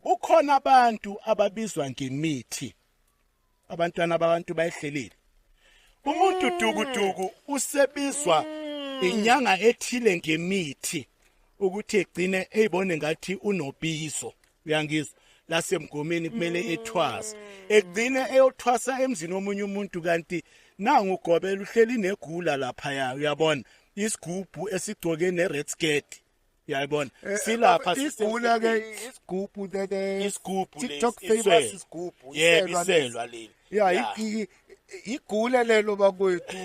Kukhona abantu ababizwa ngemithi. Abantwana babantu bayihlelile. Umuntu mm. dukuduku usebizwa mm. inyanga ethile ngemithi ukuthi egcine eyibone ngathi unobizo. Uyangizwa? lasemgomeni kumele mm. ethwasa egcine eyothwasa emzini womunye umuntu kanti nangu ugobela uhleli negula lapha ya uyabona isigubhu esigcoke ne red skirt Uyayibona. Eh, Silapha eh, igula ke isigubhu tete. Isigubhu lesi. TikTok famous isigubhu. Yebo iselwa leli. Yeah, igula lelo bakwethu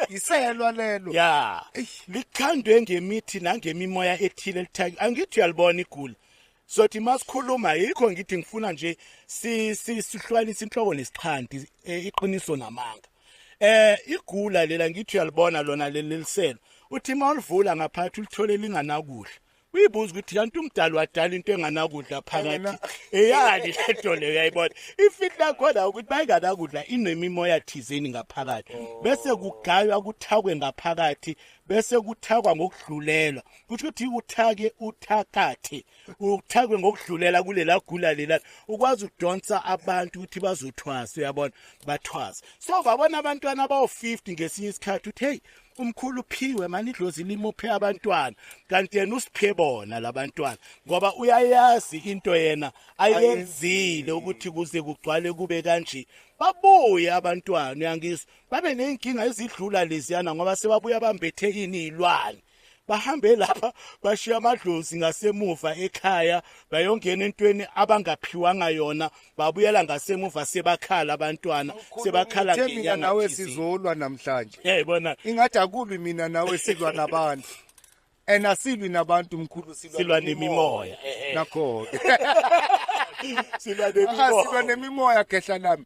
iselwa lelo ya likhandwe ngemithi nangemimoya ethile lithaki angithi uyalibona igula sothi masikhuluma yikho ngithi ngifuna nje si sihlwanisa inhloko nesixhanti e, iqiniso namanga eh igula lela ngithi uyalibona lona leliliselo uthi uma ulivula ngaphathi ulithole linganakudla uyibuza ukuthi kanti umdali wadala into enganakudla phakathi eyani lento leyo uyayibona ifihlo lakhona ukuthi bayinganakudla inemimoya thizeni ngaphakathi oh. bese kugaywa kuthakwe ngaphakathi bese kuthakwa ngokudlulelwa kusho ukuthi uthake uthakathe uthakwe ngokudlulela kulela gula lela ukwazi ukudonsa abantu ukuthi bazothwasa uyabona bathwasa so babona abantwana abawu-50 ngesinye isikhathi uthi heyi umkhulu uphiwe mani idlozi limuphe abantwana kanti yena usiphe bona labantwana ngoba uyayazi into yena ayenzile ukuthi kuze kugcwale kube kanje babuye abantwana uyangizwa babe ney'nkinga ezidlula leziyana ngoba sebabuya bambethe ini iy'lwane bahambe lapha bashiya amadlozi ngasemuva ekhaya bayongena entweni abangaphiwanga yona babuyela ngasemuva sebakhala abantwana sebakhala ngenyanga nawe sizolwa namhlanje yayibona ingathi akubi mina nawe silwa nabantu and asilwi nabantu mkhulu silwa nemimoya nakho ke silwa nemimoya silwa nemimoya gehla lami